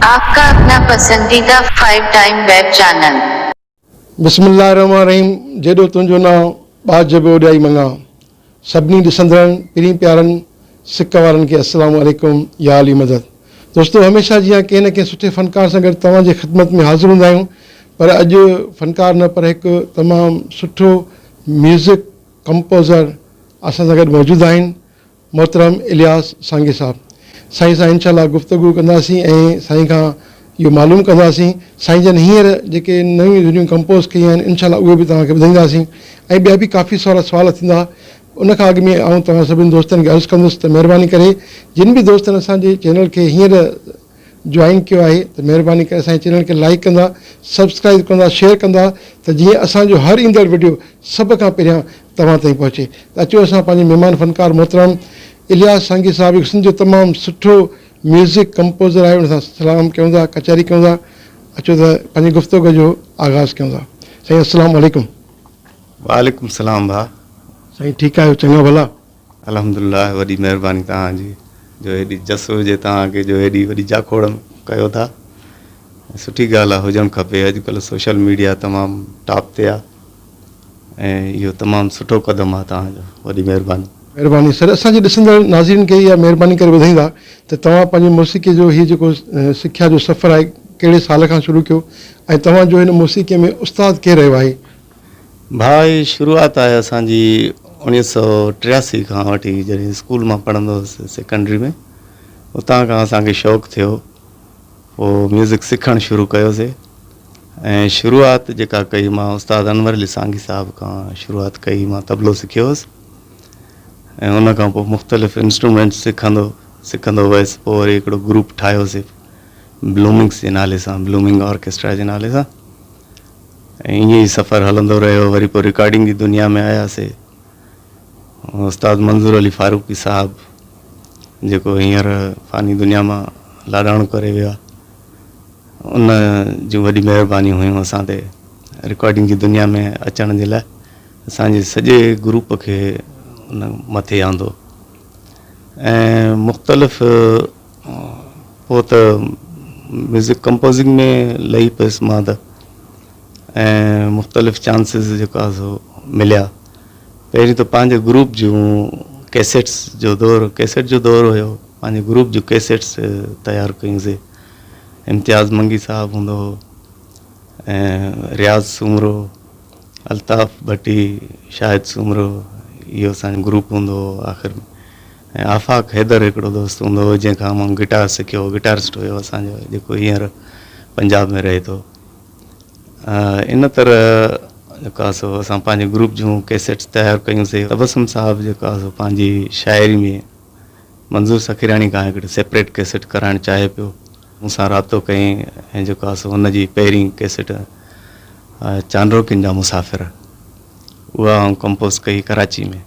آپ کا اپنا پسنديده فائيو ٽائيم ويب چينل. بسم الله الرحمٰن الرحيم جيڏو تنهنجو نانء ٻاجهه به اوڏيائي مڱان سڀني ڏسندڙن پرين پيارن سڪ وارن کي السلام عليڪم يا علي مدد دوستو هميشه جيان ڪنهن نه ڪنهن سٺي فنڪار سان گڏ توهان جي خدمت ۾ حاضر هوندا آهيون پر اڄ فنڪار نه پر هڪ تمام سٺو ميوزڪ ڪمپوزر اسان سان گڏ موجود آهن محترم الياس سانگي صاحب سائين سان انشاء الله گفتگو ڪنداسين ۽ سائين کان اهو معلوم ڪنداسين سائين جن هينئر جيڪي نيون ڌنيون ڪمپوز ڪيون آهن انشاء الله اهي به توهان کي ٻڌائينداسين ۽ ٻيا به ڪافي سارا سوال ٿيندا ان کان اڳ ۾ آئون توهان سڀني دوستن کي عرض ڪندس ته مهرباني ڪري جن به دوستن اسان جي چينل کي هينئر جوائن ڪيو آهي ته مهرباني ڪري اسان جي چينل کي لائيڪ ڪندا سبسڪرائيب ڪندا شيئر ڪندا ته جيئن اسان جو هر ايندڙ وڊيو سڀ کان پهريان توهان تائين پهچي ته اچو اسان پنهنجي مهمان فنڪار محترم الياس سانگي صاحب کي سنڌ جو تمام سٺو ميوزڪ ڪمپوزر آهي ان سان سلام ڪيون ٿا ڪچهري ڪيون ٿا اچو ته پنهنجي گفتوگو جو آغاز ڪيون ٿا سائين السلام عليڪم. وعليڪم السلام ڀاء. سائين ٺيڪ آهيو چڱا ڀلا. الحمدلله وڏي مهرباني توهان جي جو هيڏي جس هجي توهان کي جو هيڏي وڏي جاکوڙ ڪيو ٿا ۽ سٺي ڳالهه آهي هجڻ کپي اڄ ڪلهه سوشل ميڊيا تمام ٽاپ تي آهي ۽ اهو تمام سٺو قدم آهي توهان جو وڏي مهرباني. مهرباني سر اسان جي ڏسندڙ ناظرين کي اها مهرباني ڪري ٻڌائيندا ته توهان پنهنجي موسيقي جو هي جيڪو سکيا جو سفر آهي ڪهڙي سال کان شروع ڪيو ۽ توهان جو هن موسيقي ۾ استاد ڪير رهيو آهي؟ ڀاء هي شروعات آهي اسان جي اوڻيهه سؤ ٽياسي کان وٺي جڏهن اسڪول مان پڙهندو هوس سيڪنڊري ۾ اتان کان اسان کي شوق ٿيو پوء ميوزڪ سکڻ شروع ڪيوسي ۽ شروعات جيڪا ڪئي مان استاد انور علي سانگي صاحب کان شروعات ڪئي مان طبلو سکيو هوس ۽ ان کان پوء مختلف انسٽرومينٽس سکندو سکندو ويس پوء وري هڪڙو گروپ ٺاهيوسي بلومنگس جي نالي سان بلومنگ آرڪيسٽرا جي نالي سان ائين ئي سفر هلندو رهيو وري پوء رڪارڊنگ جي دنيا ۾ آياسي استاد منظور علي فاروقي صاحب جيڪو هينئر فاني دنيا مان لاڏاڻو ڪري ويو آهي ان جون وڏي مهربانيون هيون اسان تي رڪارڊنگ جي دنيا ۾ اچڻ جي لاء اسان جي سڄي گروپ کي ان مٿي آندو ۽ مختلف پوء ته ميوزڪ ڪمپوزنگ ۾ لهي پيس مان ته ۽ مختلف چانسز جيڪا سو مليا پهرين ته پنهنجي گروپ جون ڪيسيٽس جو دور ڪيسيٽ جو دور هيو پنهنجي گروپ جون ڪيسيٽس تيار ڪيون سي امتياز منگي صاحب هوندو هو رياض سومرو الطاف ڀٽي شاهد سومرو اهو اسان جو گروپ هوندو هو آخر ۾ ۽ آفاق حيدر هڪڙو دوست هوندو هو جنهن کان مان گٽار سکيو هو گٽارسٽ هيو اسان جو جيڪو هينئر پنجاب ۾ رهي ٿو ان طرح جيڪو آهي سو اسان پنهنجي گروپ جون ڪيسيٽس تيار ڪيون سي تبسم صاحب جيڪو آهي سو پنهنجي شاعري ۾ منظور سخيراڻي کان هڪڙي سيپريٽ ڪيسيٽ ڪرائڻ چاهي پيو مون سان رابطو ڪيائين ۽ جيڪو آهي سو هن جي پهرين ڪيسيٽ چانڊروڪين جا مسافر اها آئون ڪمپوز ڪئي ڪراچي ۾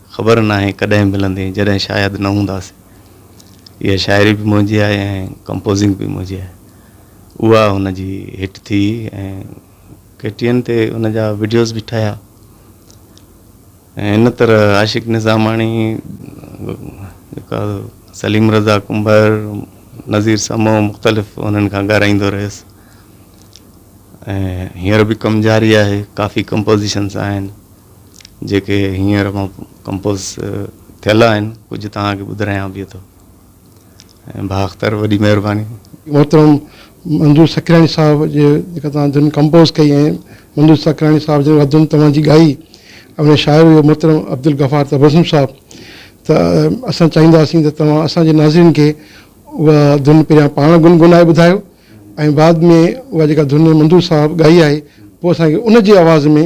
خبر ناهي ڪڏهن ملندين جڏهن شايد نه هونداسين. اها شاعري به منهنجي آهي ۽ ڪمپوزنگ به منهنجي آهي. اها هن جي هٽ ٿي ۽ ڪي ٽي اين تي ان جا وڊيوز به ٺهيا ۽ ان طرح عاشق نظاماڻي جيڪا سليم رضا ڪنڀر، نظير سمو مختلف انهن کان ڳارائيندو رهيس ۽ هينئر به ڪم جاري آهي ڪافي ڪمپوزيشنز آهن. جيڪي هينئر مان ڪمپوز ٿيل آهن ڪجهه توهان کي ٻڌرايان به ٿو ۽ ڀا اختر وڏي مهرباني. محترم منظور سکراڻي صاحب جي جيڪا توهان ڌن ڪمپوز ڪئي ۽ منظور سکراڻي صاحب جن اها ڌن توهان جي ڳائي ۽ ان شاعر هيو محترم عبدالغفار تبسم صاحب ته اسان چاهينداسين ته توهان اسان جي ناظرين کي اها ڌن پهريان پاڻ گنگنائي ٻڌايو ۽ بعد ۾ اها جيڪا ڌن منظور صاحب ڳائي آهي پوء اسان کي ان جي آواز ۾